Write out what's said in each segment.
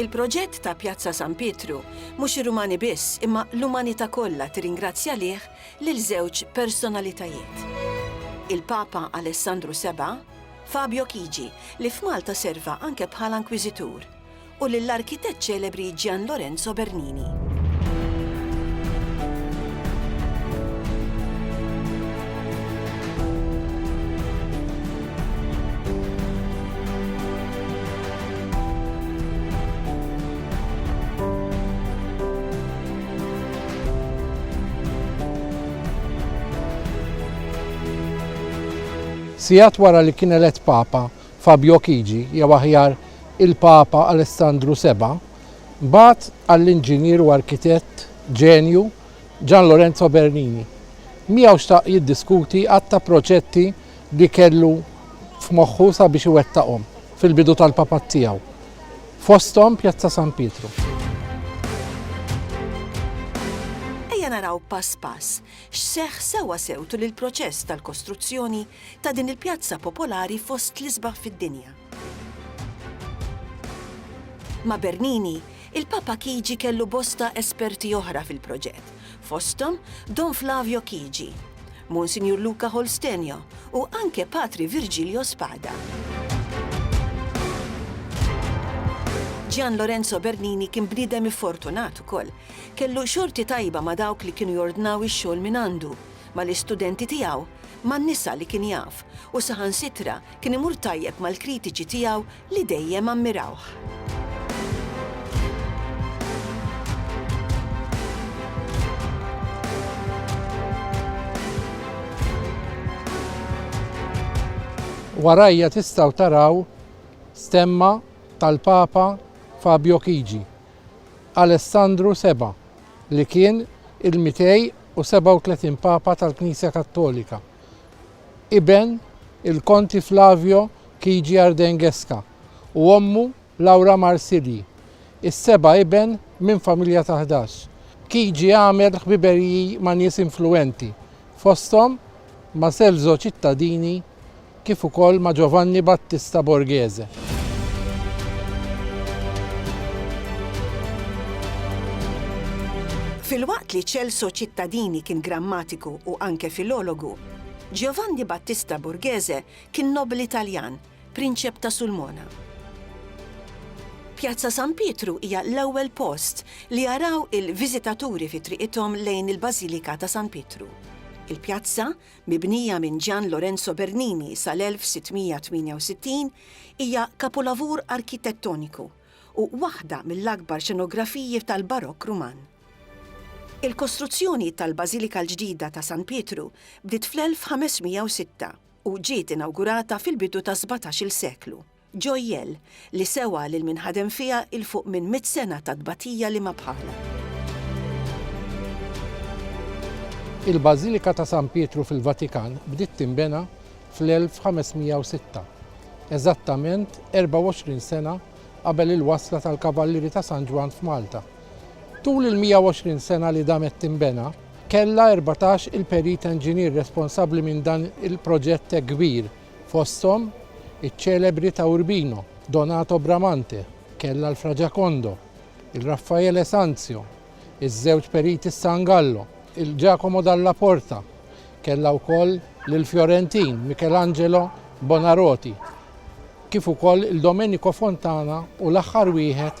Il-proġett ta' Pjazza San Pietru, mhux ir-Rumani biss imma l-umanità kollha tirringrazzja lih lil żewġ personalitajiet. Il-Papa Alessandru Seba', Fabio Chigi, li f'Malta serva anke bħala inkwiżitur, u lill-arkitett ċelebri Gian Lorenzo Bernini. Sigħat wara li kien elett Papa, Fabio Chigi, jew aħjar il-Papa Alessandru Seba', bagħat għall-inġinier u arkitett ġenju Gian Lorenzo Bernini. Miegħu xtaq jiddiskuti għadd ta' proġetti li kellu f'moħħu sabiex iwettaqhom fil-bidu tal-papat tiegħu, fosthom Pjazza San Pietru. Ejja naraw pass pass x'seħħ sewwasew tul il-proċess tal-kostruzzjoni ta' din il-pjazza popolari fost l-isbaħ fid-dinja. Ma' Bernini, il-Papa Chigi kellu bosta esperti oħra fil-proġett, fosthom Don Flavio Chigi, Monsinjur Luca Holstenio u anke Patri Virgilio Spada. Gian Lorenzo Bernini kien bniedem iffortunat ukoll. Kellu xorti tajba ma' dawk li kienu jordnaw ix-xogħol mingħandu, mal-istudenti tiegħu, man-nisa li kien jaf, u saħansitra kien imur tajjeb mal-kritiċi tiegħu li dejjem ammirawh. Warajja tistgħu taraw stemma tal-Papa Fabio Chigi, Alessandru Seba', li kien il-237 Papa tal-Knisja Kattolika iben il-Konti Flavio Chigi Ardenguesca u ommu Laura Marsilyi, is-seba' iben minn familja ta' ħdax. Chigi għamel ħbiberiji ma' nies influwenti, fosthom ma' Celso Cittadini kif ukoll ma' Giovanni Battista Borghese. Filwaqt li Celso Cittadini kien grammatiku u anke filologu, Giovanni Battista Borghese kien nobbli Taljan, prinċep ta' Sulmona. Pjazza San Pietru hija l-ewwel post li jaraw il-viżitaturi fi triqithom lejn il-Bażilika ta' San Pietru. Il-pjazza, Mibnija minn Gian Lorenzo Bernini sal-1668, hija kapulavur arkitettoniku u waħda mill-akbar xenografiji tal-Barokk Ruman. Il-kostruzzjoni tal-Bażilika l-ġdida ta' San Pietru bdiet fl-1506 u ġiet inawgurata fil-bidu tas-sbatax-il seklu. Joyelle, li sewa lil min ħadem fiha 'l fuq minn mitt sena ta' tbatija li ma bħalha. Il-Bażilika ta' San Pietru fil-Vatikan bdiet tinbena fl-1506, eżattament 24 sena qabel il-wasla tal-Kavallieri ta' San Ġwann f'Malta. Tul il-120 sena li damet tinbena, kellha erbatax il-perit enġinier responsabbli minn dan il-proġett hekk kbir. fosthom iċ-ċelebri ta' Urbino, Donato Bramante, Kella l-Fraġakondo, il-Raffaele Sanzio, iż-żewġ periti s-San Gallo, il-Giacomo Dalla Porta, Kella wkoll lill-Fjorentin Michelangelo Buonarroti, kif ukoll il-Domenico Fontana u l-aħħar wieħed,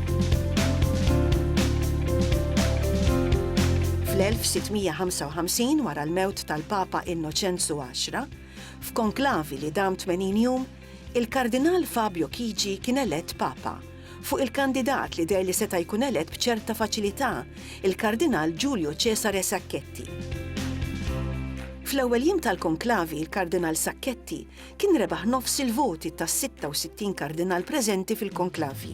Fl-1655, wara l-mewt tal-Papa Innoċenzu Għaxra, f'konklavi li dam 80 jum, il-Kardinal Fabio Chigi kien elett Papa. Fuq il-kandidat li deher li seta' jkun elett b'ċerta faċilità, il-Kardinal Giulio Cesare Sacchetti. Fl-ewwel jiem tal-konklavi, il-Kardinal Sacchetti kien rebaħ nofs il-voti tas-66 kardinal preżenti fil-konklavi.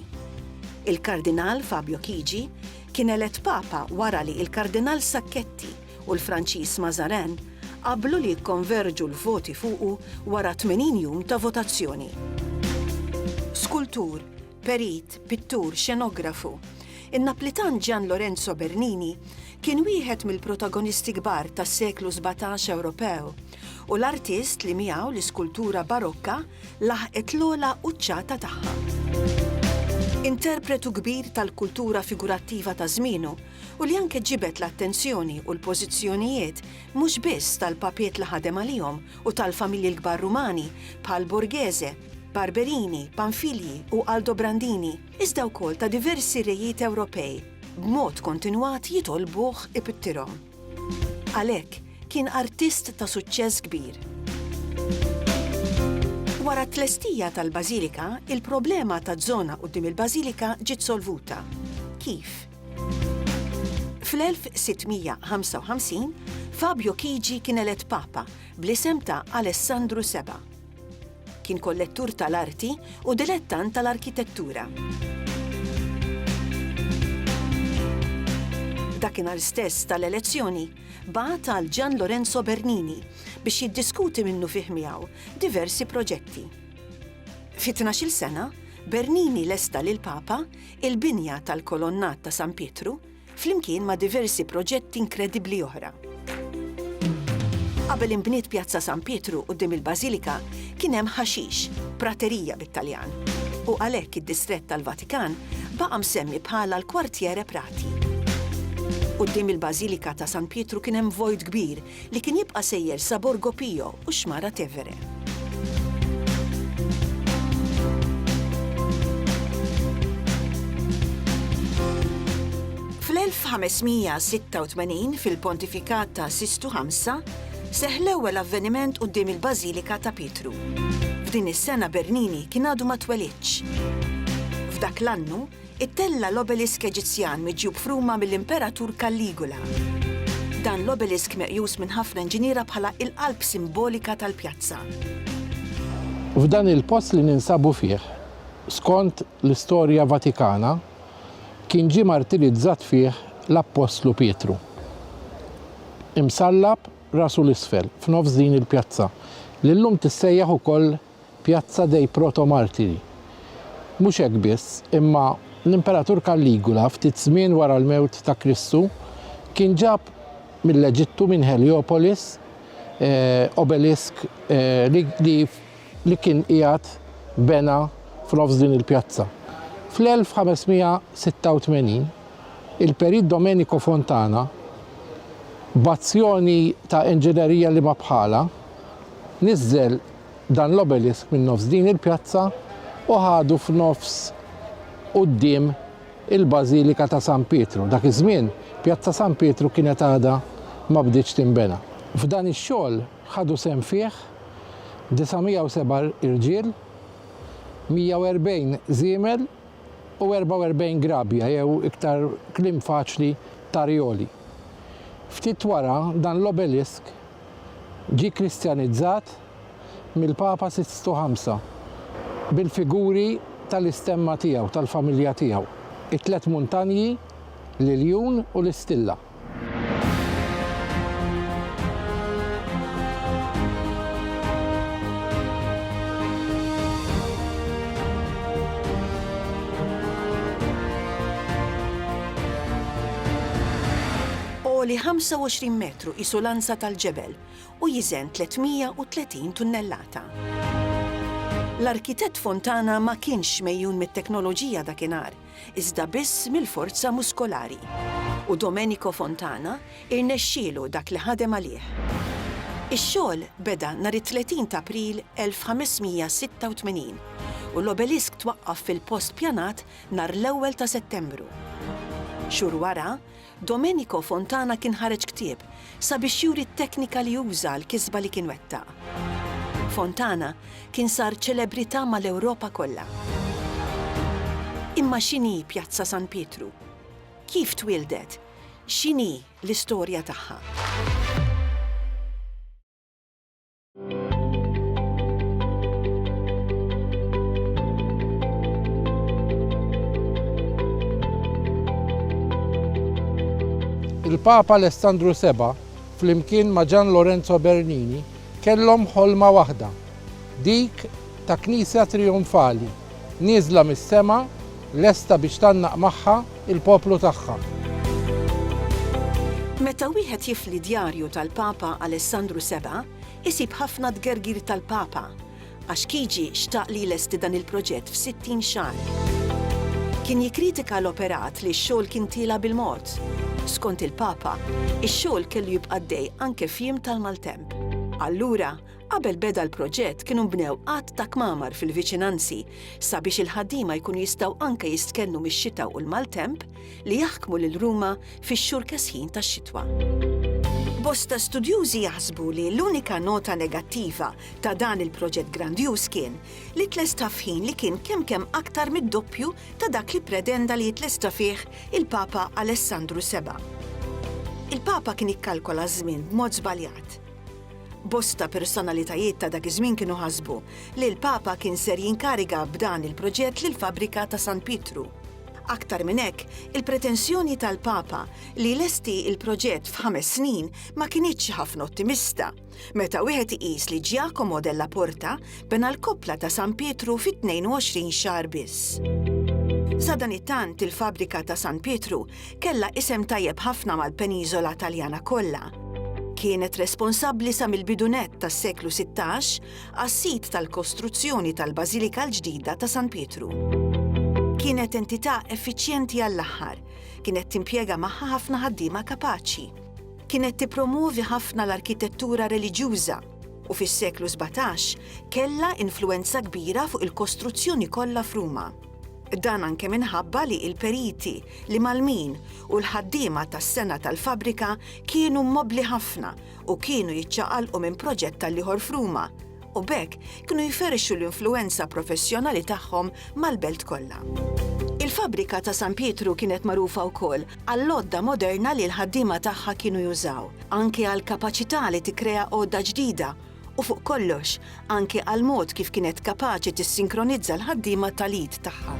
Il-Kardinal Fabio Chigi kien elett Papa wara li l-Kardinal Sacchetti u l-Franċiż Mazarin qablu li jikkonverġu l-voti fuqu wara 80 jum ta' votazzjoni. Skultur, perit, pittur, xenografu, in-Naplitan Gian Lorenzo Bernini kien wieħed mill-protagonisti kbar tas-seklu sbatax Ewropew, u l-artist li miegħu l-iskultura Barokka laħqet l-ogħla quċċata tagħha. Interpretu kbir tal-kultura figurattiva ta' żmienu u li anke ġibed l-attenzjoni u l-pożizzjonijiet mhux biss tal-papiet li ħadem għalihom u tal-familji l-kbar Rumani bħal Borghese, Barberini, Pamfilji u Aldobrandini, iżda wkoll ta' diversi rejiet Ewropej, b'mod kontinwat jitolbuh ipittirhom. Għalhekk, kien artist ta' suċċess kbir. Wara t-tlestija tal-bażilika, il-problema taż-żona quddiem il-bażilika ġiet solvuta. Kif? Fl-1655, Fabio Chigi kien elett Papa, bl-isem ta' Alessandru Seba'. Kien kollettur tal-arti u dilettant tal-arkitettura. Dakinhar stess tal-elezzjoni, bagħat għal Gian Lorenzo Bernini biex jiddiskuti minnufih miegħu diversi proġetti. Fi tnax-il sena, Bernini lesta lill-Papa il-binja tal-kolonnat ta' San Pietru, flimkien ma' diversi proġetti inkredibbli oħra. Qabel inbniet Pjazza San Pietru quddiem il-Bażilika, kien hemm ħaxix, prateria bit-Taljan, u għalhekk id-distrett tal-Vatikan baqa' msemmi bħala l-Quartiere Prati. Quddiem il-Bażilika ta' San Pietru kien hemm vojt kbir li kien jibqa' sejjer sa Borgo Pio u x-Xmara Tevere. Fl-1586, fil-pontifikat ta' Sistu Ħamsa, seħħ l-ewwel avveniment quddiem il-Bażilika ta' Pietru. F'din is-sena Bernini kien għadu ma twelidx. F'dak l-annu, Ittella' l-obelisk Eġizzjan miġjub f'Ruma mill-Imperatur Caligula. Dan l-obelisk meqjus minn ħafna inġiniera bħala il-qalb simbolika tal-pjazza. F'dan il-post li ninsabu fih, skont l-istorja Vatikana, kien ġie martirizzat fih l-Appostlu Pietru. Imsallab rasu 'l isfel, f'nofs din il-pjazza, li llum tissejjaħ ukoll Piazza dei Protomartiri. Mhux hekk biss, imma l-Imperatur Kalligula, ftit żmien wara l-mewt ta' Kristu, kien ġab mill-Eġittu, minn Heliopolis, obelisk li kien qiegħed bena f'nofs din il-pjazza. Fl-1586, il-Perit Domenico Fontana, b'azzjoni ta' inġinerija li ma bħalha, niżżel, dan l-obelisk minn nofs din il-pjazza u ħadu f'nofs quddiem il-Bażilika ta' San Pietru. Dak iż-żmien, Pjazza San Pietru kienet għadha ma bdietx tinbena. F'dan ix-xogħol ħadu sehem fih 907 irġiel, 140 żiemel u 44 grabja jew iktar kliem faċli tarjoli. Ftit wara, dan l-obelisk Ġie Kristjanizzat mill-Papa Sistu Ħamsa bil-figuri tal-istemma tiegħu, tal-familja tiegħu, it-tliet muntanji, l-iljun u l-istilla. Għoli 25 metru, L-iskelettru qisu lanza tal-ġebel u jiżen 330 tunnellata. L-arkitett Fontana ma kienx megħjun mit-teknoloġija dakinhar, iżda biss mill-forza muskolari. U Domenico Fontana irnexxielu dak li ħadem għalih. Ix-xogħol beda nhar it-30 t'April 1586, u l-obelisk twaqqaf fil-post pjanat nhar l-ewwel ta' Settembru. Xhur wara, Domenico Fontana kien ħareġ ktieb sabiex juri t-teknika li uża għall-kisba li kien wettaq. Fontana kien sar ċelebrità mal-Ewropa kollha. Imma x'inhi Pjazza San Pietru? Kif twieldet? X'inhi l-istorja tagħha? Il-Papa Alessandru Seba' flimkien ma' Gian Lorenzo Bernini kellhom ħolma waħda, dik ta' Knisja trijonfali, Nieżla mis-sema, lesta biex tgħannaq magħha l-poplu tagħha. Meta wieħed jifli djarju tal-Papa Alessandru Seba', isib ħafna tgergir tal-Papa, għax Chigi xtaq li jlesti dan il-proġett f'sittin xahar. Kien jikkritika l-operat li x-xogħol kien tiela' bil-mod. Skont il-Papa, ix-xogħol kellu jibqa' għaddej anke f'jiem tal-maltemp. Allura, Qabel beda l-proġett kienu nbnew għadd ta' kmamar fil-viċinanzi sabiex il-ħaddiema jkunu jistgħu anke jistkennu mix-xita u l-maltemp li jaħkmu lil Ruma fix-xhur kesħin tax-xitwa. Bosta studjużi jaħsbu li l-unika nota negattiva ta' dan il-proġett grandjuż kien li tlesta f'ħin li kien kemm kemm aktar mid-doppju ta' dak li predenda li jitlesta fih il-Papa Alessandru VII. Il-Papa kien ikkalkola żmien b'mod żbaljat. Bosta personalitajiet ta' dak iż-żmien kienu ħasbu li l-Papa kien ser jinkariga b'dan il-proġett lill-fabbrika ta' San Pietru. Aktar minn hekk, il-pretensjoni tal-Papa li jlesti l-proġett f'ħames snin ma kinitx ħafna ottimista, meta wieħed iqis li Giacomo della Porta bena l-koppla ta' San Pietru fi 22 xahar biss. Sadanittant il-fabbrika ta' San Pietru Kellha isem tajjeb ħafna mal-peniżola Taljana kollha. Kienet responsabbli sa mill-bidu nett tas-seklu sittax għas-sid tal-kostruzzjoni tal-Bażilika l-ġdida ta' San Pietru. Kienet entità effiċjenti għall-aħħar. Kienet timpjega magħha ħafna ħaddiema kapaċi. Kienet tippromwovi ħafna l-arkitettura reliġjuża u fis-seklu sbatax kellha influwenza kbira fuq il-kostruzzjoni kollha f'Ruma. Dan anke minħabba li l-periti, l-imgħallmin u l-ħaddiema tas-sengħa tal-fabbrika kienu mobbli ħafna u kienu jiċċaqalqu minn proġett tal-ieħor f'Ruma, u b'hekk kienu jferrxu l-influwenza professjonali tagħhom mal-belt kollha. Il-fabbrika ta' San Pietru kienet magħrufa wkoll għall-għodda moderna li l-ħaddiema tagħha kienu jużaw, anke għall-kapaċità li tikkrea għodda ġdida u fuq kollox, anke għall-mod kif kienet kapaċi tissinkronizza l-ħaddiema tal-id tagħha.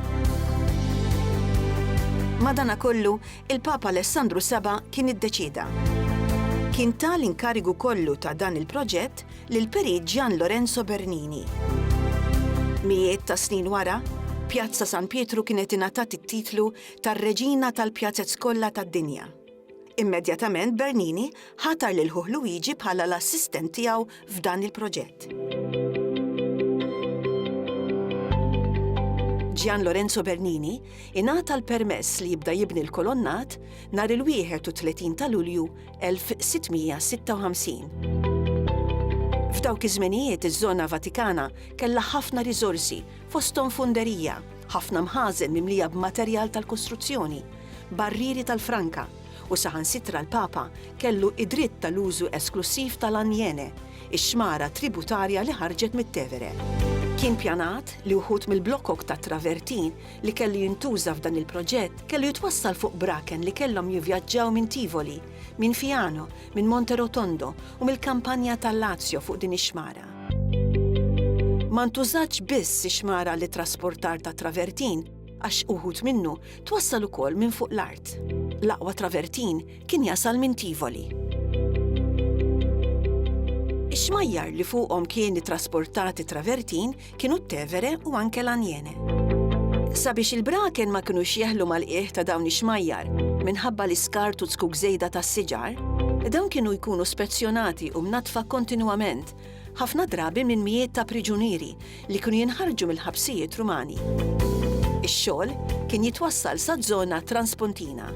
Madanakollu, il-Papa Alessandru Saba' kien iddeċieda. Kien ta l-inkarigu kollu ta' dan il-proġett lill-Perit Gian Lorenzo Bernini. Mijiet ta' snin wara, Pjazza San Pietru kienet ingħatat it-titlu tar-Reġina tal-Pjazez kollha tad-dinja. Immedjatament Bernini ħatar lil ħuh Luigi bħala l-assistent tiegħu f'dan il-proġett. Gian Lorenzo Bernini ingħata l-permess li jibda jibni l-kolonnat nhar il-31 ta' Lulju 1656. F'dawk iż-żmenijiet iż-żona Vatikana kellha ħafna riżorsi fosthom funderija, Ħafna mħażen mimlija b'materjal tal-kostruzzjoni, barrieri tal-franka, u saħansitra l-Papa kellu d-dritt tal-użu esklussiv tal-Aniene, ix-xmara tributarja li ħarġet mit-Tevere. Kien pjanat li wħud mill-blokok tat-travertin li kellu jintuża f'dan il-proġett kellu jitwassal fuq braken li kellhom jivvjaġġaw minn Tivoli, minn Fiano, minn Monte Rotondo u mill-Kampanja tal-Lazio fuq din ix-xmara. Ma ntużatx biss ix-xmara għall-ittrasportar tat-travertin għax uħud minnu twassal ukoll minn fuq l-art. L-aqwa travertin kien jasal minn Tivoli. Ix-xmajjar li fuqhom kien ittrasportat it-travertin kienu t-Tevere u anke l-Anjene. Sabiex il-braken ma kinux jeħlu mal-qiegħ ta' dawn ix-xmajjar minħabba l-iskart u t-zkuk żejda tas-siġar, dawn kienu jkunu spezzjonati u mnaddfa kontinwament, ħafna drabi minn mijiet ta' priġunieri li kienu jinħarġu mill-ħabsijiet Rumani. Ix-xogħol kien jitwassal saz-zona transpontina.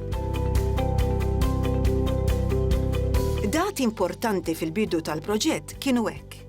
Dati importanti fil-bidu tal-proġett kienu hekk.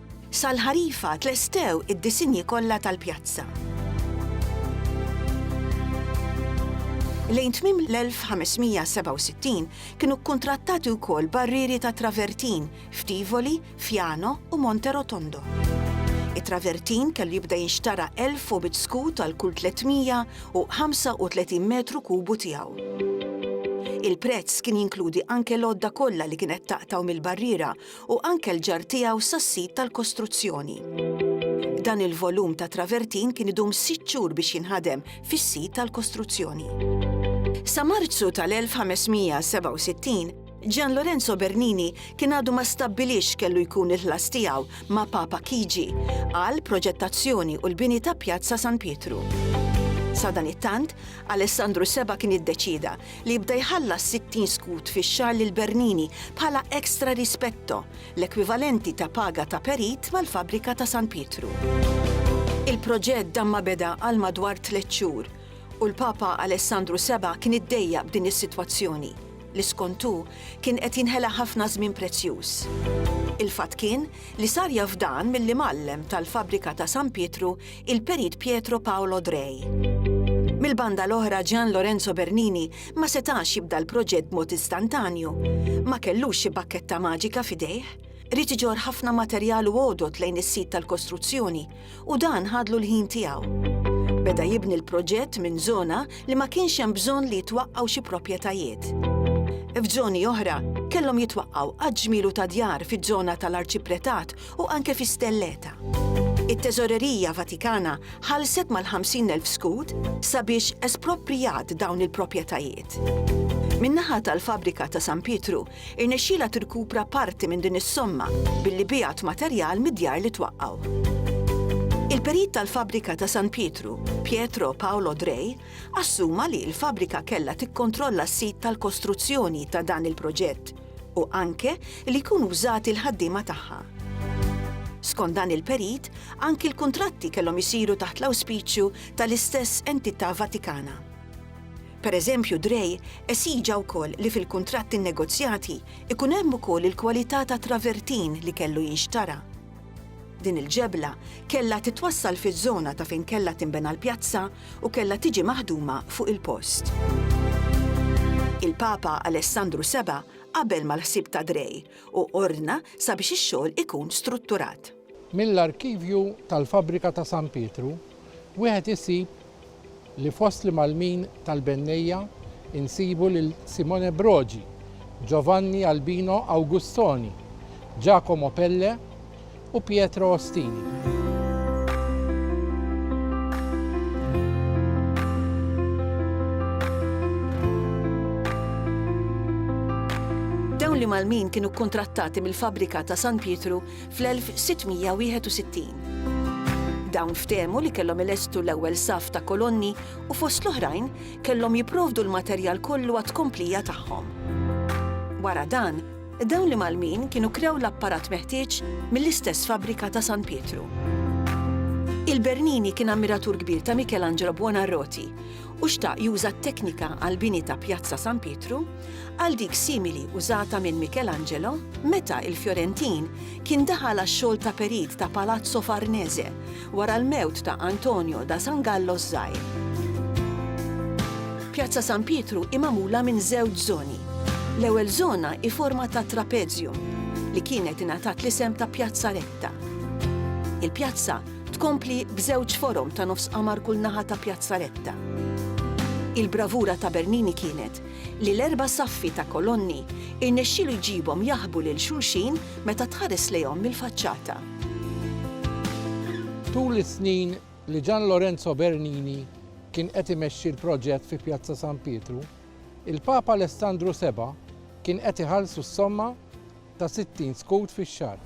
Sal-ħarifa tlestew id-disinji kollha tal-pjazza. Lejn tmiem l-1567 kienu kkuntrattati wkoll barrieri ta' travertin f'Tivoli, Fjano u Monte Rotondo. It-travertin kellu jibda jinxtara 1,100 skud għal kull 335 metru kubu tiegħu. Il-prezz kien jinkludi anke l-għodda kollha li kienet taqtgħu mill-barriera u anke l-ġarr tiegħu sas-sit tal-kostruzzjoni. Dan il-volum ta' travertin kien idum sitt xhur biex jinħadem fis-sit tal-kostruzzjoni. Sa Marzu tal-1567, Gian Lorenzo Bernini kien għadu ma stabbilix kellu jkun il-ħlas tiegħu ma' Papa Chigi għal proġettazzjoni u l-bini ta' Pjazza San Pietru. Sadanittant, Alessandru Seba' kien iddeċieda li jibda jħallas 60 skud fix-xahar lil Bernini bħala extra rispetto, l-ekwivalenti ta' paga ta' perit mal-fabbrika ta' San Pietru. Il-proġett dan ma beda għal madwar tliet xhur u l-Papa Alessandru Seba' kien iddejjaq b'din is-sitwazzjoni, li skont hu kien qed jinħela ħafna żmien prezzjuż. Il-fatt kien li sar jaf dan milli mgħallem tal-fabbrika ta' San Pietru il-Perit Pietro Paolo Drei. Mill-banda l-oħra Gian Lorenzo Bernini ma setax jibda l-proġett b'mod istantanju, ma kellux xi bakketta maġika f'idejh, rrid iġorr ħafna materjal u għodod lejn is-sit tal-kostruzzjoni u dan ħadlu l-ħin tiegħu. Beda jibni l-proġett minn żona li ma kienx hemm bżonn li jitwaqqgħu xi proprjetajiet. F'żoni oħra kellhom jitwaqqgħu għaġmielu ta' djar fiż-żona tal-arċipretat u anke fi stelleta. It-Teżorerija Vatikana ħallset mal-50,000 skud sabiex esproprjat dawn il-proprjetajiet. Min-naħa tal-fabbrika ta' San Pietru, irnexxielha tirkupra parti minn din is-somma billi biegħet materjal mid-djar li twaqqgħu. Il-perit tal-fabbrika ta' San Pietru, Pietro Paolo Drei, assuma li l-fabbrika kellha tikkontrolla s-sid tal-kostruzzjoni ta' dan il-proġett, u anke li jkunu wżati l-ħaddiema tagħha. Skont dan il-perit, anki l-kuntratti kellhom isiru taħt l-awspiċju tal-istess entità Vatikana. Pereżempju, Drei esiġa wkoll li fil-kuntratti nnegozjati ikun hemm ukoll il-kwalità ta' travertin li kellu jinxtara. Din il-ġebla kellha titwassal fiż-żona ta' fejn kellha tinbena l-pjazza u kellha tiġi maħduma fuq il-post. Il-Papa Alessandru Seba' qabel mal-ħsieb ta' Grey u ordna sabiex ix-xogħol ikun strutturat. Mill-arkivju tal-fabbrika ta' San Pietru wieħed isib li fost l-imgħallmin tal-bennejja nsibu lil Simone Brogi, Giovanni Albino Augustoni, Giacomo Pelle, u Pietro Ostini. Dawn li Malmin kienu kkuntrattati mill-fabbrika ta' San Pietru fl-1661. Dawn ftehmu li kellhom ilestu l-ewwel saf ta' kolonni u fost l-oħrajn kellhom jipprovdu l-materjal kollu għat-tkomplija tagħhom. Wara dan, Dawn l-imgħallmin kienu krew l-apparat meħtieġ mill-istess fabbrika ta' San Pietru. Il-Bernini kien ammiratur kbir ta' Michelangelo Buonarroti u xtaq juża t-teknika għall-bini ta' Pjazza San Pietru għal dik simili użata minn Michelangelo meta l-Fjorentin kien daħal għax-xogħol ta' perit ta' Palazzo Farnese wara l-mewt ta' Antonio da San Gallo ż-Żgħir. Pjazza San Pietru hi magħmula minn żewġ żoni. L-ewwel żona hi forma ta' trapezium, li kienet ingħatat l-isem ta' Pjazza Retta. Il-pjazza tkompli b'żewġ forom ta' nofs qamar kull naħa ta' Pjazza Retta. Il-bravura ta' Bernini kienet li l-erba' saffi ta' kolonni irnexxielu jġibhom jaħbu lil xulxin meta tħares lejhom mill-faċċata. Tul is-snin li Gian Lorenzo Bernini kien qed imexxi l-proġett fi Pjazza San Pietru, il-Papa Alessandru Seba' kien qed iħallsu s-somma ta' 60 skud fix-xahar.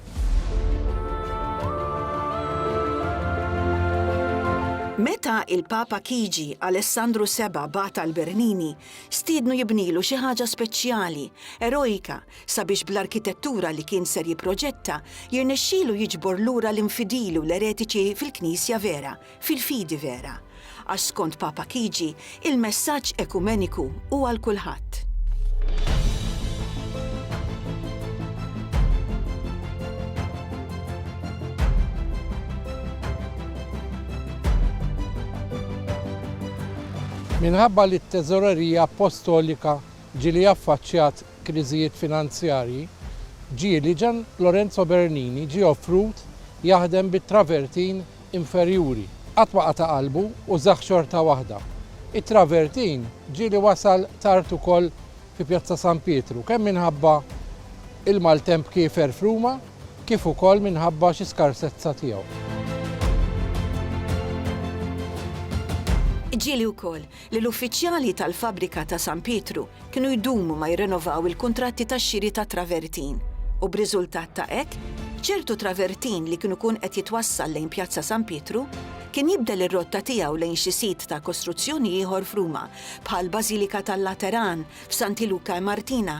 Meta l-Papa Kigi Alessandru Seba' bagħat għal Bernini, stiednu jibnielu xi ħaġa speċjali, erojka, sabiex bl-arkitettura li kien ser jipproġetta jirnexxielu jiġbor lura l-infidili u l-eretiċi fil-Knisja vera, fil-fidi vera. Għax skont Papa Chigi, il-messaġġ ekumeniku hu għal kulħadd. Minħabba li t-Teżorerija Appostolika ġieli affaċċjat kriżijiet finanzjarji, ġieli Gian Lorenzo Bernini ġie offrut jaħdem bit-travertin inferjuri. Qatt ma qata' qalbu u żagħ xorta waħda. It-travertin ġieli wasal tard ukoll fi Pjazza San Pietru, kemm minħabba l-maltemp kiefer f'Ruma kif ukoll minħabba xi skarsezza tiegħu. Ġieli wkoll li l-uffiċjali tal-fabbrika ta' San Pietru kienu jdumu ma jirrenovaw il-kuntratti tax-xiri ta' travertin u b'riżultat ta' hekk, ċertu travertin li kien ikun qed jitwassal lejn Pjazza San Pietru kien jibdel ir-rotta tiegħu lejn xi sit ta' kostruzzjoni ieħor f'Ruma bħal Bażilika tal-Lateran, f'Santi Luka e Martina,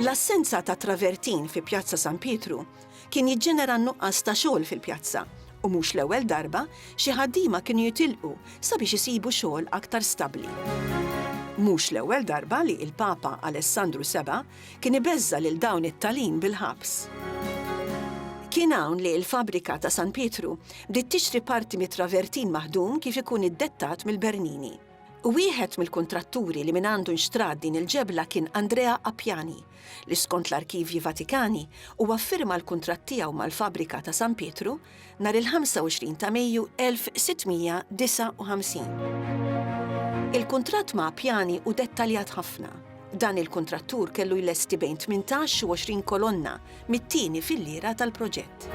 L-assenza ta' travertin fi Pjazza San Pietru kien jiġġenera nuqqas ta' xogħol fil-pjazza u mhux l-ewwel darba xi ħaddiema kienu jitilqu sabiex isibu xogħol aktar stabbli. Mhux l-ewwel darba li il-Papa Alessandru Seba' Kien ibeżża' lil dawn it-talin bil-ħabs. Kien hawn li l-fabbrika ta' San Pietru bdiet tixtri parti mit-travertin maħdum kif ikun iddettat mill-Bernini. Wieħed mill-kuntratturi li mingħandu nxtrat din il-ġebla kien Andrea Appiani, li skont l-arkivji Vatikani huwa ffirma l-kuntratt tiegħu mal-fabbrika ta' San Pietru nhar il-25 ta' Mejju 1659. Il-kuntratt ma' Appiani hu dettaljat ħafna. Dan il-kuntrattur kellu jlesti bejn 18 u 20 kolonna mit-tieni filliera tal-proġett.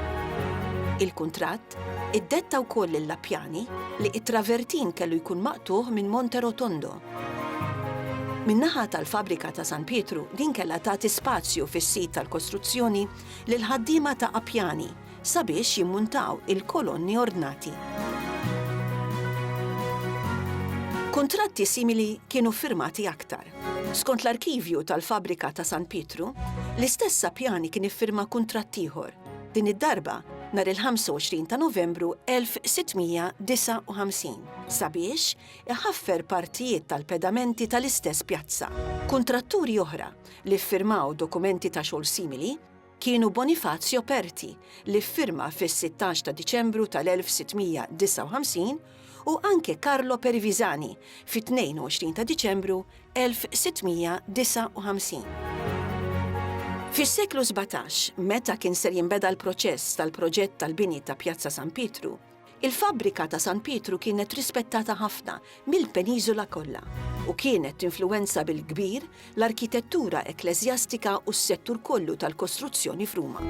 Il-kuntratt iddetta wkoll lil Appiani li t-travertin kellu jkun maqtugħ minn Monte Rotondo. Min-naħa tal-Fabbrika ta' San Pietru din kellha tagħti spazju fis-sit tal-kostruzzjoni lill-ħaddiema ta' Appiani sabiex jimmuntaw il-kolonni ordnati. Kuntratti simili kienu ffirmati aktar. Skont l-arkivju tal-fabbrika ta' San Pietru, l-istess Sapjani kien iffirma kuntratt ieħor, din id-darba nhar il-25 ta' Novembru 1659, sabiex iħaffer partijiet tal-pedamenti tal-istess pjazza. Kuntratturi oħra li ffirmaw dokumenti ta' xogħol simili kienu Bonifazio Perti li ffirma fis-16 ta' Diċembru tal-1659 u anke Carlo Perivisani fit-22 ta' Diċembru 1659. Fis-seklu sbatax, meta kien ser jinbeda l-proċess tal-proġett tal-bini ta' Pjazza San Pietru, Il-fabbrika ta' San Pietru kienet rispettata ħafna mill-peniżola kollha u kienet tinfluwenza bil-kbir l-arkitettura ekkleżjastika u s-settur kollu tal-kostruzzjoni f'Ruma.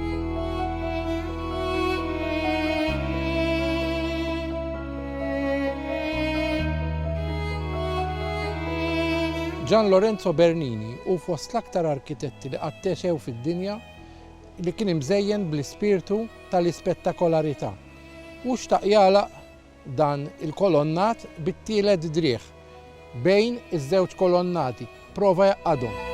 Gian Lorenzo Bernini hu fost l-aktar arkitetti li qatt għexew fid-dinja li kien imżejjen bl-ispirtu tal-ispettakolarità. Hu xtaq jagħlaq dan il-kolonnat bit-tielet driegħ bejn iż-żewġ kolonnati. Prova jgħaqqadhom.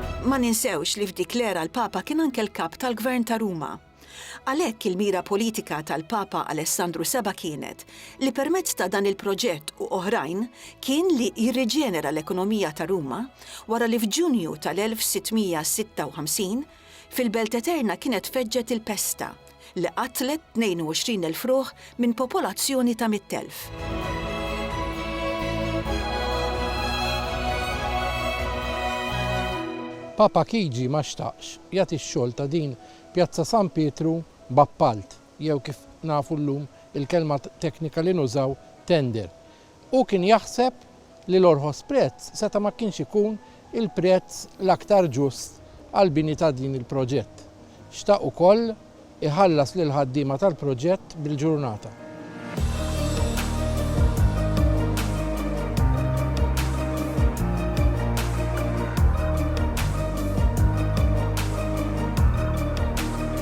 Ma ninsewx li f'dik l-era l-Papa kien anke l-Kap tal-Gvern ta' Ruma. Għalhekk il-mira politika tal-Papa Alessandru Seba' kienet li permezz ta' dan il-proġett u oħrajn kien li jirriġenera l-ekonomija ta' Ruma wara li f'Ġunju tal-1656 fil-Belt Eterna kienet feġġet il-pesta li qatlet 22 elf ruħ minn popolazzjoni ta' mitt elf. Papa Chigi ma xtaqx jagħti x-xogħol ta' din Pjazza San Pietru b'appalt jew kif nafu llum il-kelma teknika li nużaw tender. Hu kien jaħseb li l-orħos prezz seta' ma kienx ikun il-prezz l-aktar ġust għall-bini ta' din il-proġett. Xtaq ukoll iħallas lill-ħaddiema tal-proġett bil-ġurnata.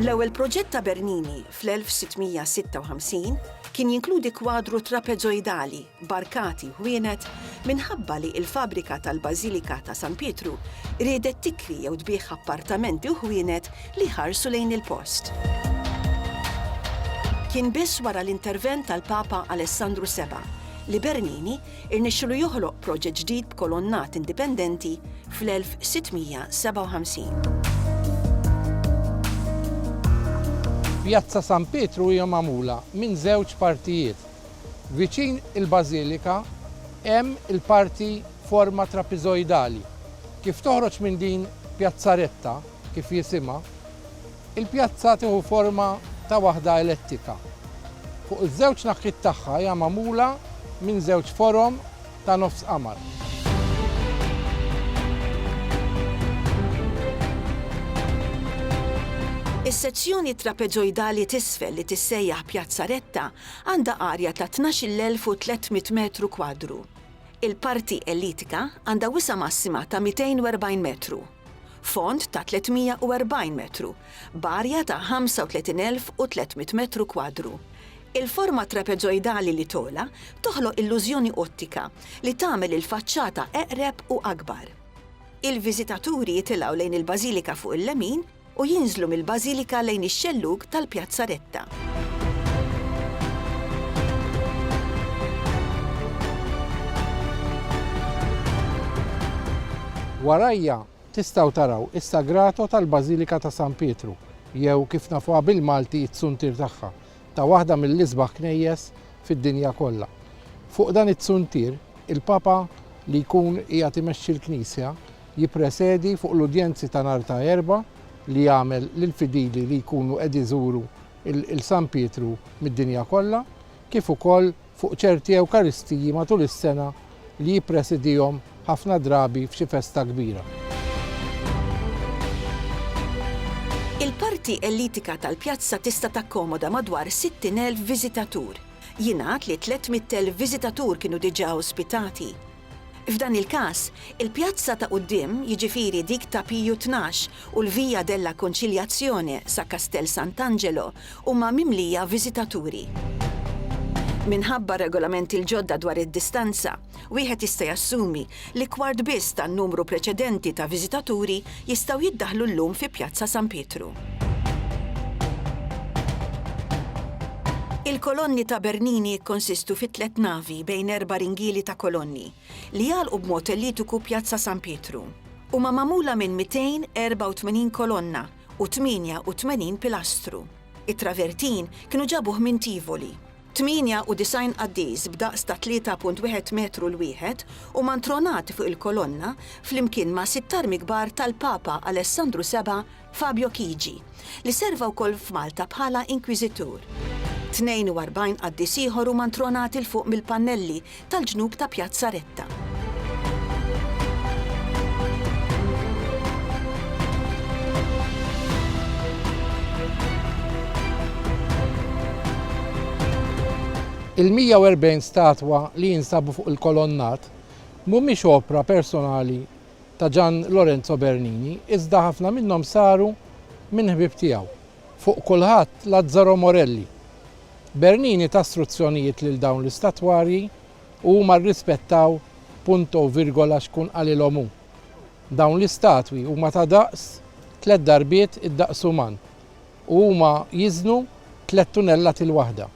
L-ewwel proġett ta' Bernini, fl-1656, kien jinkludi kwadru trapeżoidali b'arkati ħwienet minħabba li l-fabbrika tal-Bażilika ta' San Pietru riedet tikri jew tbigħ appartamenti u ħwienet li jħarsu lejn il-post. Kien biss wara l-intervent tal-Papa Alessandru Seba' li Bernini irnexxielu joħloq proġett ġdid b'kolonnat indipendenti fl-1657. Pjazza San Pietru hija magħmula minn żewġ partijiet. Viċin il-bażilika hemm il-parti forma trapiżojdali. Kif toħroġ minn din pjazzaretta, kif jisimha, Il-pjazza tieħu forma ta' waħda elettika. Fuq iż-żewġ naħkiet tagħha hija magħmula minn żewġ forom ta' nofs qamar. Is-sezzjoni trapeġojdali t'isfel li tissejjaħ Pjazza Retta għandha arja ta' 12,300 metru kwadru. Il-parti elitika għandha wisa' massima ta' 240 metru. fond ta' 340 metru, b'arja ta' 35,300 metru kwadru. Il-forma trapeżojdali li togħla toħloq illużjoni ottika li tagħmel il-faċċata eqreb u akbar. Il-viżitaturi jitilgħu lejn il-bażilika fuq il-lemin u jinżlu mill-Bażilika lejn ix-xellug tal-Pjazzaretta. Warajja tistgħu taraw is-Sagrato tal-Bażilika ta' San Pietru, jew kif nafuha bil-Malti t-tsuntier tagħha, ta' waħda mill-isbaħ knejjes fid-dinja kollha. Fuq dan it-tsuntier, il-Papa li jkun qiegħed imexxi l-Knisja jippresedi fuq l-udjenzi ta' nhar ta' Erbgħa li jagħmel lill-fidili li jkunu qed iżuru l San Pietru mid-dinja kollha, kif ukoll fuq ċerti Ewkaristiji matul is-sena li jippresidihom ħafna drabi f'xi festa kbira. Il-parti elitika tal-pjazza tista' takkomoda madwar 60,000 viżitatur. Jingħad li 300,000 viżitatur kienu diġà ospitati. F'dan il-każ, il-pjazza ta' quddiem, jiġifieri dik ta' Piju Tnax u l-Via della Conciliazione sa Castel Sant'Angelo huma mimlija viżitaturi. Minħabba r-regolamenti l-ġodda dwar id-distanza, wieħed jista' jassumi li kwart biss tan-numru preċedenti ta' viżitaturi jistgħu jiddaħħlu llum fi Pjazza San Pietru. Il-kolonni ta' Bernini jikkonsistu fi tliet navi bejn erba' ringieli ta' kolonni, li jagħlqu b'mod ellittiku Pjazza San Pietru. Huma magħmula minn 284 kolonna u 88 pilastru. It-travertin kienu ġabuh minn Tivoli. 98 qaddis b'daqs ta' 3.1 metru 'l wieħed huma ntronati fuq il-kolonna flimkien ma' sitt armi kbar tal-Papa Alessandru Seba' Fabio Chigi, li serva wkoll f'Malta bħala Inkwiżitur. 42 qaddis ieħor huma ntronati 'l fuq mill-pannelli tal-ġnub ta' Pjazza Retta. Il-140 statwa li jinsabu fuq il-kolonnat mhumiex opra personali ta' Gian Lorenzo Bernini iżda ħafna minnhom saru minn ħbieb tiegħu. Fuq kulħadd, Lazzaro Morelli. Bernini ta struzzjonijiet lil dawn l-istatwarji u huma rrispettaw punto u virgola x'kun qalilhom hu. Dawn l-istatwi huma ta' daqs tliet darbiet id-daqs uman u huma jiżnu tliet tunellati l-waħda.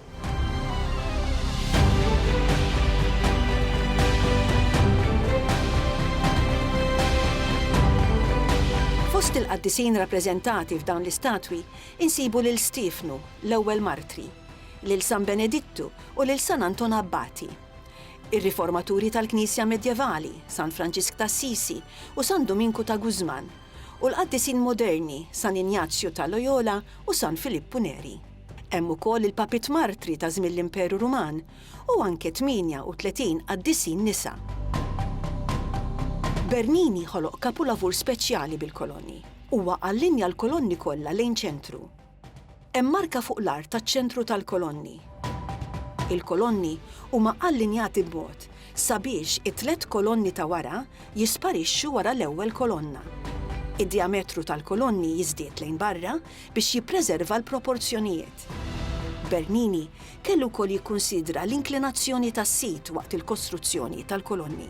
Fost il-qaddisin rappreżentati f'dawn l-istatwi insibu lil Stiefnu, l-ewwel martri, lil San Benedittu u lil San Anton Abbati. Ir-riformaturi tal-Knisja Medjevali, San Franġisk t'Assisi u San Duminku ta' Guzman, u l-qaddisin moderni San Injazju ta' Loyola u San Filippu Neri. Hemm ukoll il-Papiet Martri ta' żmien l-Imperu Ruman u anke 38 qaddisin nisa. Bernini ħoloq kapulavur speċjali bil-kolonni. Huwa allinja l-kolonni kollha lejn ċentru. Hemm marka fuq l-art taċ-ċentru tal-kolonni. Il-kolonni huma allinjati b'mod sabiex it-tliet kolonni ta' wara jisparixxu wara l-ewwel kolonna. Id-djametru tal-kolonni jiżdied lejn barra biex jippreserva l-proporzjonijiet. Bernini kellu wkoll jikkunsidra l-inklinazzjoni tas-sit waqt il-kostruzzjoni tal-kolonni.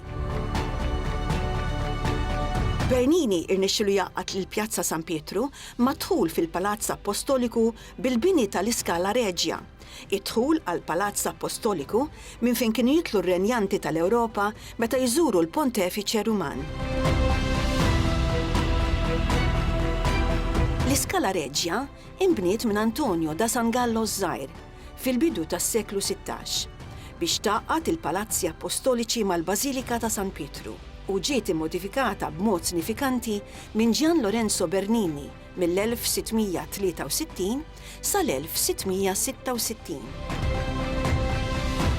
Bernini rnexxielu jgħaqqad lil Pjazza San Pietru mad-dħul fil-Palazz Appostoliku bil-bini tal-iScala Regia, id-dħul għall-Palazz Appostoliku minn fejn kienu jitlu r-renjanti tal-Ewropa meta jżuru l-Pontefiċe Ruman. L-iScala Regia inbniet minn Antonio da San Gallo ż-Żgħir. fil-bidu tas-seklu sittax, biex tgħaqqad il-Palazzi Appostoliċi mal-Bażilika ta' San Pietru, u ġiet immodifikata b'mod sinifikanti minn Gian Lorenzo Bernini mill-1663 sal-1666.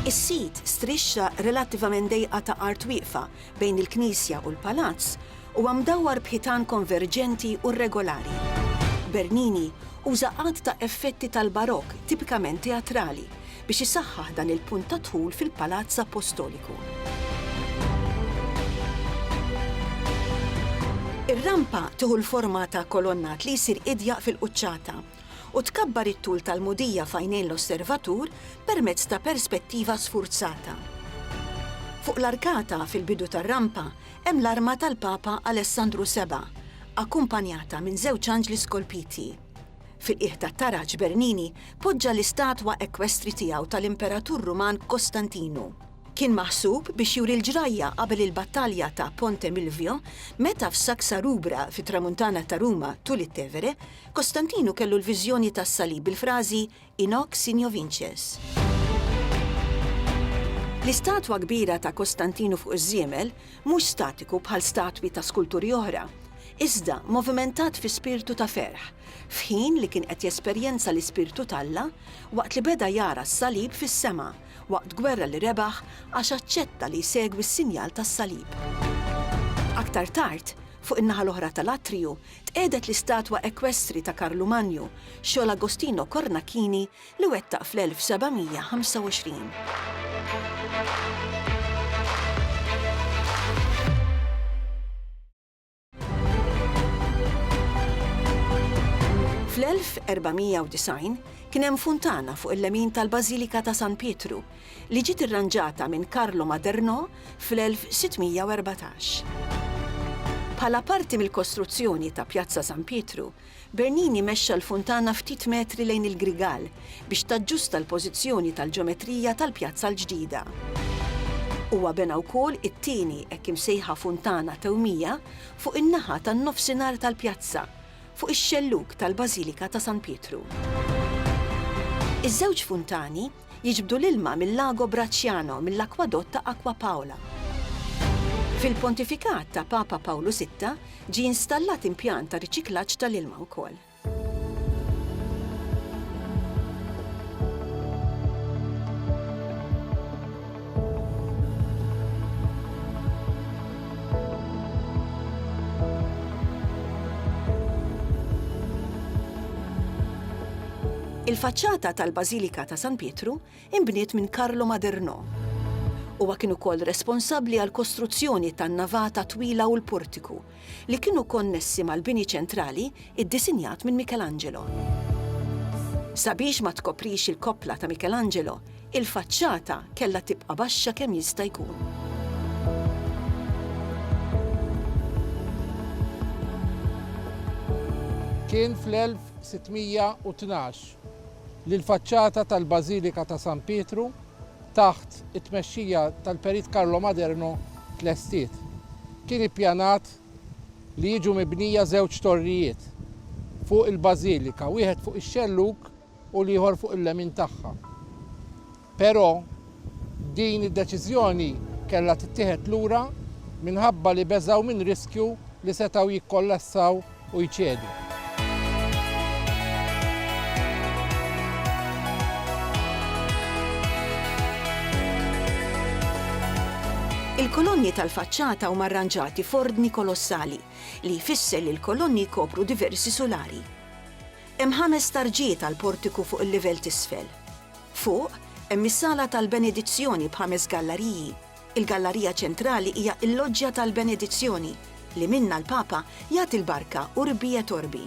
Is-sit strixxa relattivament dejqa ta' art wieqfa bejn il-knisja u l-palazz, huwa mdawwar b'ħitan konverġenti u rregolari. Bernini uża għadd ta' effetti tal-Barokk tipikament teatrali biex isaħħaħ dan il-punt ta' dħul fil-Palazz Appostoliku. Ir-rampa tieħu l-forma ta' kolonnat li jsir idjaq fil-quċċata u tkabbar it-tul tal-mudija f'għajnejn l-osservatur permezz ta' perspettiva sfurzata. Fuq l-arkata, fil-bidu tar-rampa, hemm l-arma tal-Papa Alessandru Seba', akkumpanjata minn żewġ anġli skolpiti. Fil-qiegħ tat-taraġ Bernini poġġa l-istatwa ekwestri tiegħu tal-Imperatur Ruman Kostantinu. Kien maħsub biex juri l-ġrajja qabel il-battalja ta' Ponte Milvio meta f'Saxa Rubra, fit-Tramuntana ta' Ruma, tul it-Tevere, Kostantinu kellu l-viżjoni tas-salib bil-frażi In hoc signo vinces. L-istatwa kbira ta' Kostantinu fuq iż-żiemel mhux statiku bħal statwi ta' skulturi oħra, iżda movimentat fi spirtu ta' ferħ, f'ħin li kien qed jesperjenza l-Ispirtu t'Alla waqt li beda jara s-salib fis-sema waqt gwerra li rebaħ għax aċċetta li jsegwi s-sinjal tas-salib. Aktar tard, fuq in-naħa l-oħra tal-atriju, Tqiegħdet l-istatwa ekwestri ta' Karlu Manju, xogħol Agostino Cornacchini li wettaq fl-1495. Fl-1490 kien hemm funtana fuq il-lemin tal-Bażilika ta' San Pietru li ġiet irranġata minn Carlo Maderno fl-1614. Bħala parti mill-kostruzzjoni ta' Pjazza San Pietru, Bernini mexxa l-funtana ftit metri lejn il-Grigal biex taġġusta l-pożizzjoni tal-ġeometrija tal-pjazza l-ġdida. Huwa bena wkoll it-tieni hekk imsejħa funtana tewmija fuq in-naħa tan-nofsinhar tal-pjazza, fuq ix-xellug tal-Bażilika ta' San Pietru. Iż-żewġ funtani, jiġbdu l-ilma mil-Lago Bracciano mill-akwadott ta' Acqua Paola. Fil-pontifikat ta' Papa Pawlu Sitta ġie installat impjant ta' riċiklaġġ tal-ilma wkoll. Il-faċċata tal-Bażilika ta' San Pietru inbniet minn Carlo Maderno. Huwa kien ukoll responsabbli għall-kostruzzjoni tan-navata twila u l-portiku, li kienu konnessi mal-bini ċentrali iddisinjat minn Michelangelo. Sabiex ma tkoprix il-koppla ta' Michelangelo, Il-faċċata kellha tibqa' baxxa kemm jista' jkun. Kien fl-1612 li l-faċċata tal-Bażilika ta' San Pietru, taħt it-tmexxija tal-Perit Carlo Maderno, tlestiet. Kien ippjanat li jiġu mibnija żewġ torrijiet fuq il-bażilika, wieħed fuq ix-xellug u l-ieħor fuq il-lemin tagħha. Però din id-deċiżjoni kellha tittieħed lura minħabba li beżgħu minn riskju li setgħu jikkollassaw u jċedu. Il-kolonni tal-faċċata huma rranġati f'ordni kolossali, li jfisser li l-kolonni jkopru diversi sulari. Hemm ħames tarġiet għall-portiku fuq il-livell t'isfel. Fuq, hemm is-Sala tal-Benedizzjoni b'ħames gallariji. Il-gallarija ċentrali hija l-Loġġja tal-Benedizzjoni, li minnha l-Papa jagħti l-barka Urbi et Orbi.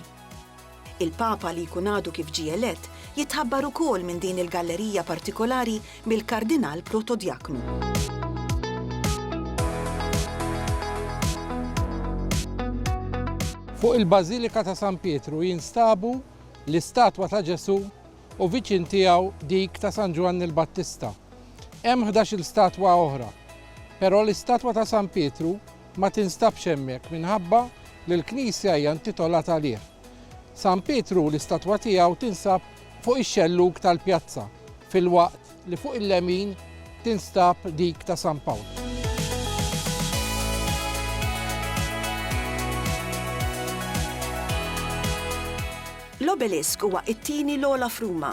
Il-Papa li jkun għadu kif ġie elett, jitħabbar ukoll minn din il-gallerija partikolari mill-Kardinal Protodjaknu. Fuq il-Bażilika ta' San Pietru jinstabu l-istatwa ta' Ġesù u viċin tiegħu dik ta' San Ġwanni l-Battista. Hemm 11-il statwa oħra, però l-istatwa ta' San Pietru ma tinstabx hemmhekk minħabba li l-knisja hija intitolata għalih. San Pietru l-istatwa tiegħu tinsab fuq ix-xellug tal-pjazza, filwaqt li fuq il-lemin tinstab dik ta' San Pawl. L-Obelisk huwa t-tieni l-ogħla f'Ruma,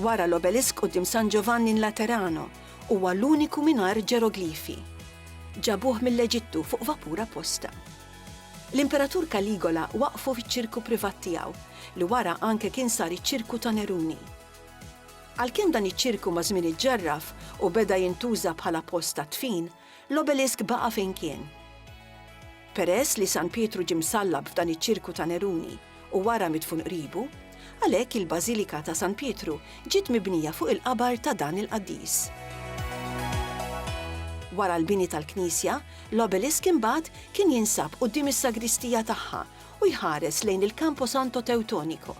wara l-Obelisk quddiem San Giovanni in Laterano. Huwa l-uniku mingħajr ġeroglifi. Ġabuh mill-Eġittu fuq vapur apposta. L-Imperatur Caligola waqqfu fiċ-ċirku privat tiegħu, li wara anke kien sar iċ-ċirku ta' Neruni. Għalkemm dan iċ-ċirku maż-żmien iġġarraf u beda jintuża bħala post tad-dfin, l-obelisk baqa' fejn kien. Peress li San Pietru ġie msallab f'dan iċ-ċirku ta' Neruni, u wara midfun qribu, għalhekk il-Bażilika ta' San Pietru ġiet mibnija fuq il-qabar ta' dan il-qaddis. Wara l-bini tal-knisja, l-obelisk imbagħad kien jinsab quddiem is-sagristija tagħha u jħares lejn il-Camposanto Teutonico.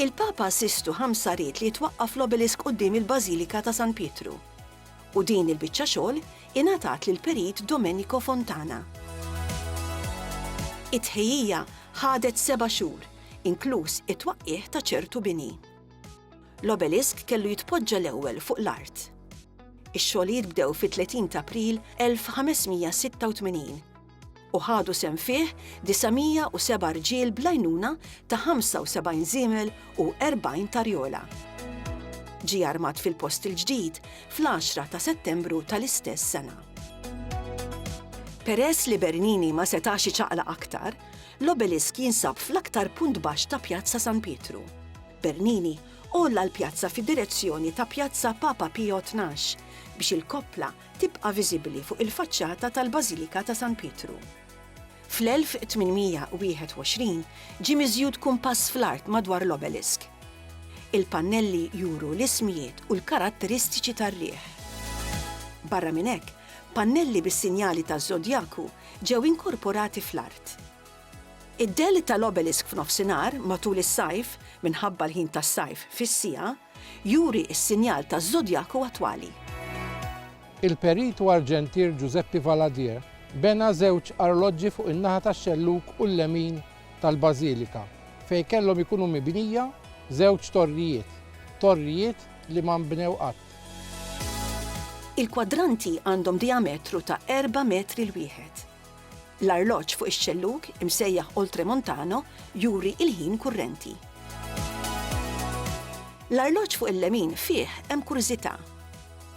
Il-Papa Sistu V ried li jitwaqqaf l-obelisk quddiem il-Bażilika ta' San Pietru. u din il-biċċa xogħol ingħatat lill-Perit Domenico Fontana. It-tħejjija ħadet seba' xhur, inkluż it-twaqqigħ ta' ċertu bini. L-obelisk kellu jitpoġġa l-ewwel fuq l-art. Ix-xogħlijiet bdew fit-30 t'April 1586. u ħadu sehem fih 907 rġiel bl-għajnuna ta' 75 żiemel u 40 tarjola. Ġie armat fil-post il-ġdid fl-10 ta' Settembru tal-istess sena. Peress li Bernini ma setax iċaqlaq aktar, l-obelisk jinsab fl-aktar punt baxx ta' Pjazza San Pietru. Bernini għolla l-pjazza fid-direzzjoni ta' Pjazza Papa Pio Tnax biex il-koppla tibqa' viżibbli fuq il-faċċata tal-Bażilika ta' San Pietru. Fl-1821 ġie miżjud kumpass fl-art madwar l-obelisk. Il-pannelli juru l-ismijiet u l-karatteristiċi tar-riħ. Barra minn hekk, pannelli bis-sinjali taż-żodjaku ġew inkorporati fl-art. Id-dell tal-obelisk f'nofsinhar, matul is-sajf, minħabba l-ħin tas-sajf fis-siegħa, Juri s-sinjal taż-żodjaku attwali. Il-perit u arġentier Giuseppe Valadier bena żewġ arloġġi fuq in-naħa tax-xellug u l-lemin tal-bażilika, fejn kellhom ikunu mibnija żewġ torrijiet, torrijiet li ma nbnew qatt. Il-kwadranti għandhom dijametru ta' erba' metri l-wieħed. L-arloġġ fuq ix-xellug, imsejjaħ oltremontano, juri il-ħin kurrenti. L-arloġġ fuq il-lemin fih hemm kurżità.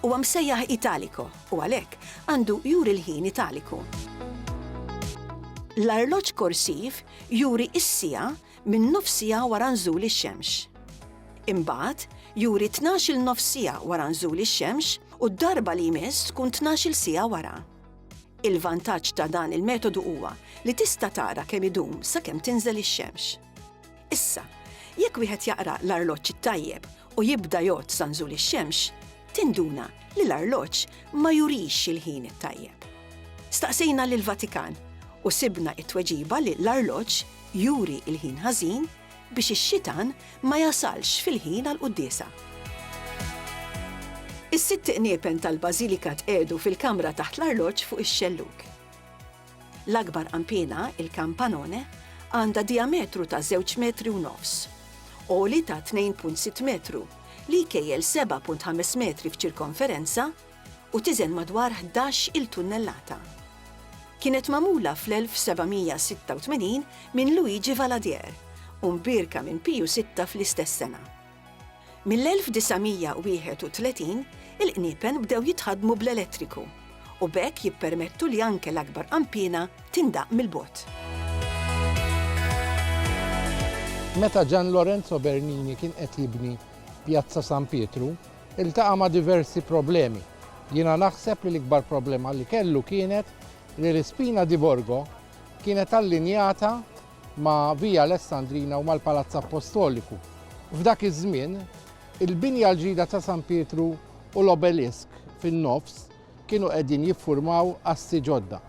Huwa msejjaħ italico u għalhekk għandu juri l-ħin italiku. L-arloġġ korsiv juri s-siegħa minn nofs siegħa wara nżul ix-xemx. Imbagħad, juri tnax-il nofs siegħa wara nżul ix-xemx u d-darba li jmiss tkun tnax-il siegħa wara. Il-vantaġġ ta' dan il-metodu huwa li tista' tara kemm idum sakemm tinżel ix-xemx. Issa, jekk wieħed jaqra l-arloġġ it-tajjeb u jibda jgħodd sa nżul ix-xemx, tinduna li l-arloġġ ma jurix il-ħin it-tajjeb. Staqsejna lill-Vatikan u sibna t-tweġiba li l-arloġġ juri l-ħin ħażin biex ix-xitan ma jasalx fil-ħin għall-quddiesa. Is-sitt qniepen tal-bażilika tqiegħdu fil-kamra taħt l-arloġġ fuq ix-xellug. L-akbar qanpiena, il-campanone, għandha dijametru ta' żewġ metri u nofs, għoli ta' 2.6 metru, li jkejjel 7.5 metri f'ċirkonferenza, u tiżen madwar ħdax il tunnellata. Kienet magħmula fl-1786 minn Luigi Valadier u mbierka minn Piju Sitta fl-istess sena. Mill-1931 il-qniepen bdew jitħaddmu bl-elettriku u b'hekk jippermettu li anke l-akbar qanpiena tindaqq mill-bogħod. Meta Gian Lorenzo Bernini kien qed jibni Pjazza San Pietru, Iltaqa' ma' diversi problemi. Jiena naħseb li l-ikbar problema li kellu kienet li l-ispina di Borgo kienet allinjata ma' Via Alessandrina u mal-Palazz Appostoliku. F'dak iż-żmien, il-binja l-ġdida ta' San Pietru u l-Obelisk fin-nofs, kienu qegħdin jiffurmaw assi ġodda.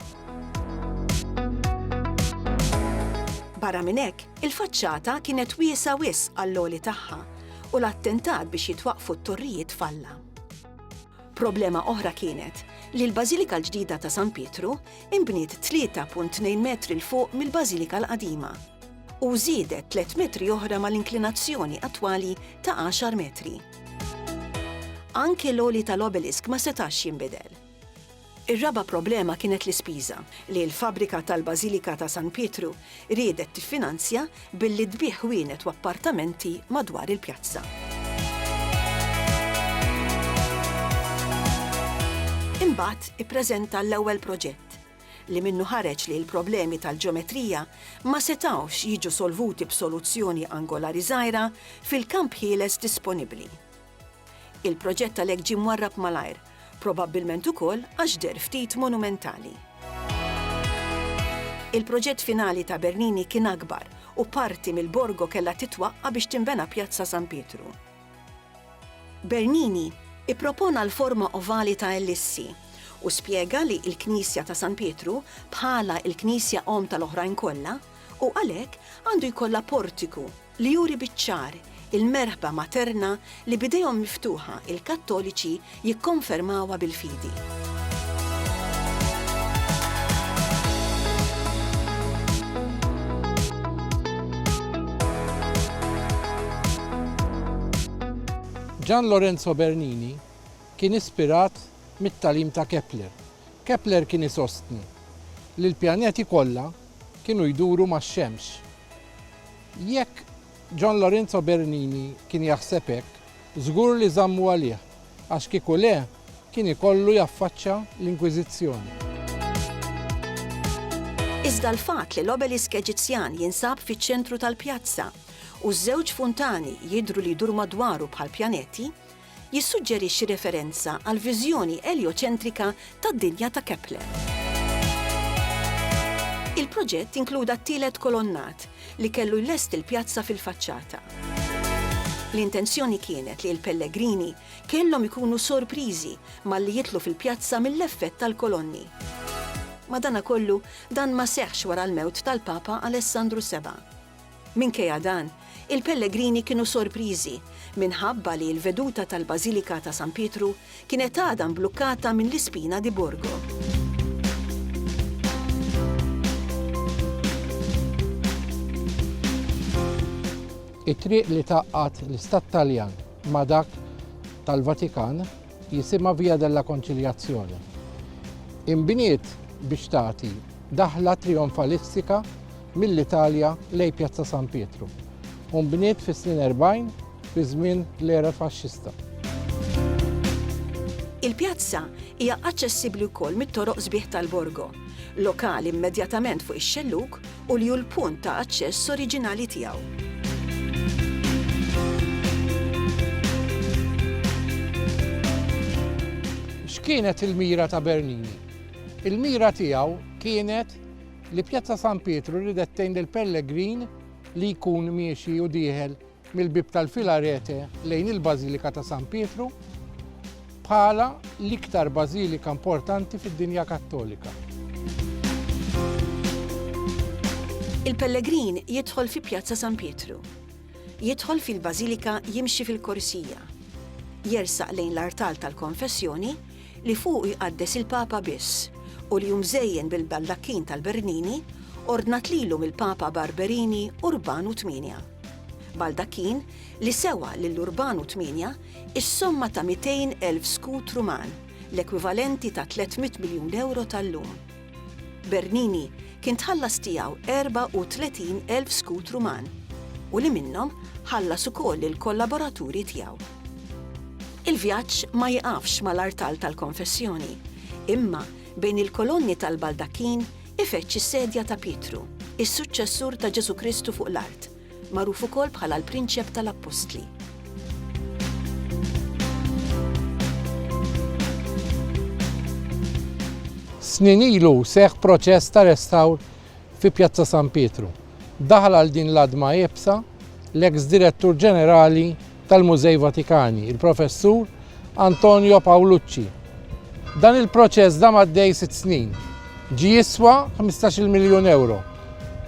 Barra minn hekk, il-faċċata kienet wiesgħa wisq għall-għoli tagħha u l-attentat biex jitwaqqfu t-torrijiet falla. Problema oħra kienet li l-Bażilika l-ġdida ta' San Pietru inbniet 3.2 metri 'l fuq mill-Bażilika l-qadima u żiedet tliet metri oħra mal-inklinazzjoni attwali ta' għaxar metri. Anke l-għoli tal-obelisk ma setax jinbidel. Ir-raba' problema kienet l-ispiża li l-fabbrika tal-Bażilika ta' San Pietru riedet tiffinanzja billi tbigħ ħwienet u appartamenti madwar il-pjazza. Imbagħad ippreżenta l-ewwel proġett, li minnu ħareġ li l-problemi tal-ġeometrija ma setgħux jiġu solvuti b'soluzzjoni angolari żgħira fil-kamp ħieles disponibbli. Il-proġett għalhekk ġie mwarrab malajr, probabbilment ukoll għax deher ftit monumentali. Il-proġett finali ta' Bernini kien akbar u parti mill-borgo kellha titwaqqa' biex tinbena Pjazza San Pietru. Bernini ippropona l-forma ovali ta' ellissi u spjega li l-Knisja ta' San Pietru, bħala l-Knisja omm tal-oħrajn kollha, u għalhekk għandu jkollha portiku li juri biċ-ċar il-merħba materna li b'idejhom miftuħa l-Kattoliċi jikkonfermawha bil-fidi. Gian Lorenzo Bernini kien ispirat mit-tagħlim ta' Kepler. Kepler kien isostni li l-pjaneti kollha kienu jduru max-Xemx. Jekk John Lorenzo Bernini kien jaħseb hekk, żgur li żammu għalih, għax kieku le, kien ikollu jaffaċċja l-Inkwiżizzjoni. Iżda l-fatt li l-obelisk Eġizzjan jinsab fiċ-ċentru tal-pjazza, u ż-żewġ funtani jidhru li jduru madwaru bħal pjaneti, jissuġġerixxi referenza għall-viżjoni eljoċentrika tad-dinja ta' Kepler. Il-proġett inkluda t-tielet kolonnat, li kellu jlesti l-pjazza fil-faċċata. L-intenzjoni kienet li l-pellegrini kellhom ikunu sorpriżi malli jidħlu fil-pjazza mill-effett tal-kolonni. Madankollu, dan ma seħħx wara l-mewt tal-Papa Alessandru Seba'. Minkejja dan, il-pellegrini kienu sorpriżi minħabba li l-veduta tal-Bażilika ta' San Pietru kienet għadha mblukkata minn l-ispina di Borgo. It-triq li tgħaqqad l-Istat Taljan ma' dak tal-Vatikan, jisimha Via della Conciliazione. Inbniet biex tagħti daħla trijonfalistika mill-Italja lejn Pjazza San Pietru u nbniet fis-snin 40 fi żmien l-era faxxista. Il-pjazza hija aċċessibbli wkoll mit-toroq sbieħ tal-Borgo, lokal immedjatament fuq ix-xellug u li hu l-punt ta' aċċess oriġinali tiegħu. X'kienet il-mira ta' Bernini? Il-mira tiegħu kienet li Pjazza San Pietru ridet tgħin lill-pellegrin li jkun miexi u dieħel mill-Bieb tal-Filarete lejn il-Bażilika ta' San Pietru bħala l-iktar bażilika importanti fid-dinja Kattolika. Il-pellegrin jidħol fi Pjazza San Pietru. Jidħol fil-Bażilika jimxi fil-korsija. Jersaq lejn l-artal tal-konfessjoni li fuq jqaddes il-Papa biss u li jumżejjen bil-baldakkin tal-Bernini ordnat lilu mill-Papa Barberini Urbanu 8. Baldachin, li sewa lil Urbanu Tmienja s-somma ta' 200,000 skut Ruman, l-ekwivalenti ta' 300 miljun ewro tal-lum. Bernini kien tħallas tiegħu 34,000 skut Ruman u li minnhom ħallas ukoll lill-kollaboraturi tiegħu. Il-vjaġġ ma jiqafx mal-artal tal-konfessjoni, imma bejn il-kolonni tal-baldakkin, Ifeġġ is-sedja ta' Pietru, is-suċċessur ta' Ġesù Kristu fuq l-art, magħruf ukoll bħala l-Prinċep tal-Appostli. Snin ilu seħħ proċess ta' restawr fi Pjazza San Pietru. Daħal għal din l-għadma iebsa l-eks Direttur Ġenerali tal-Mużej Vatikani, il-Professur Antonio Paolucci. Dan il-proċess dam għaddej sitt snin, ġie jiswa 15-il miljun ewro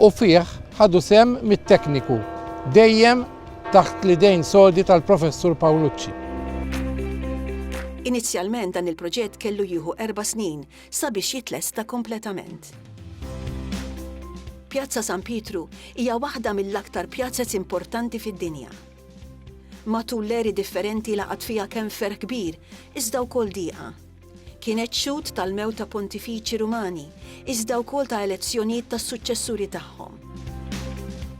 u fih ħadu sehem mitt tekniku, dejjem taħt l-idejn sodi tal-Professur Paolucci. Inizjalment dan il-proġett kellu jieħu erba' snin sabiex jitlesta kompletament. Pjazza San Pietru hija waħda mill-aktar pjazzez importanti fid-dinja. Matul l-eri differenti laqat fiha kemm ferħ kbir, iżda wkoll diqa. Kienet xhud tal-mewt ta' pontifiċi Rumani, iżda wkoll ta' elezzjonijiet tas-suċċessuri tagħhom.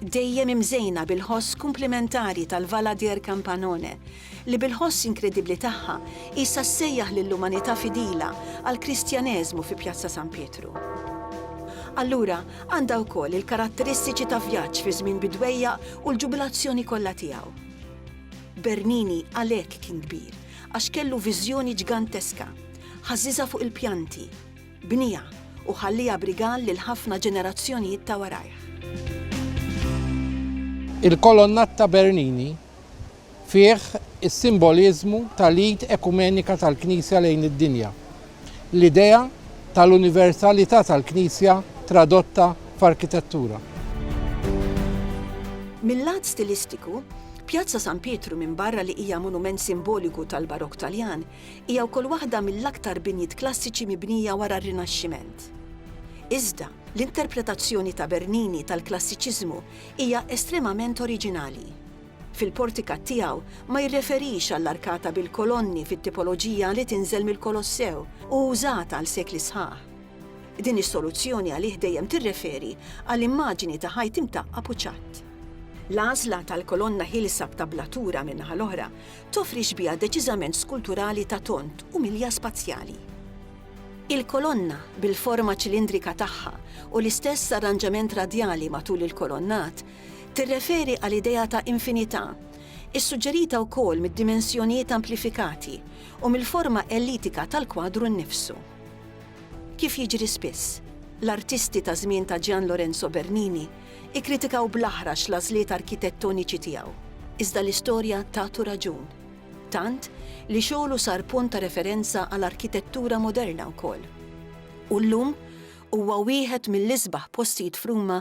Dejjem imżejna bil-ħoss kumplimentari tal-Valadier Campanone, li bil-ħoss inkredibbli tagħha qisha ssejjaħ lill-umanità fidila għall-Kristjaneżmu fi Pjazza San Pietru. Allura, għandha wkoll il-karatteristiċi ta' vjaġġ fi żmien bidwejjaq u l-ġubilazzjoni kollha tiegħu. Bernini għalhekk kien kbir, għax kellu viżjoni ġganteska, Ħażżiżha fuq il-pjanti, bniha u ħalliha b'rigal lil ħafna ġenerazzjonijiet ta' warajh. Il-kolonnat ta' Bernini fih is-simboliżmu tal-id ekumenika tal-Knisja lejn id-dinja, l-idea tal-universalità tal-Knisja tradotta f'arkitettura. Mil-lat stilistiku, Pjazza San Pietru minbarra li hija monument simboliku tal-Barokk Taljan, hija wkoll waħda mill-aktar binjiet klassiċi mibnija wara r-Rinaxximent. Iżda, l-interpretazzjoni ta' Bernini tal-klassiċiżmu hija estremament oriġinali. fil-portikat tiegħu ma jirreferix għall-arkata bil-kolonni fit-tipoloġija li tinżel mill-Kolossew u użata għal sekli sħaħ. Din is-soluzzjoni għalih dejjem tirreferi għal immaġini ta' ħajt imtaqqab u ċatt. L-għażla tal-kolonna ħielsa b'tablatura min-naħa l-oħra toffri xbieha deċiżament skulturali ta' tond u milja spazjali. Il-kolonna, bil-forma ċilindrika tagħha u l-istess arranġament radjali matul il-kolonnat, tirreferi għal idea ta' infinità, issuġġerita wkoll mid-dimensjonijiet amplifikati u mill-forma ellitika tal-kwadru nnifsu. Kif jiġri spiss, l-artisti taż-żmien ta' Gian Lorenzo Bernini kkritikaw bl-aħrax l-għażliet arkitettoniċi tiegħu. Iżda l-istorja tatu raġun, tant li xogħlu sar punt ta' referenza għal arkitettura moderna wkoll. U llum huwa wieħed mill-isbaħ postijiet f'Ruma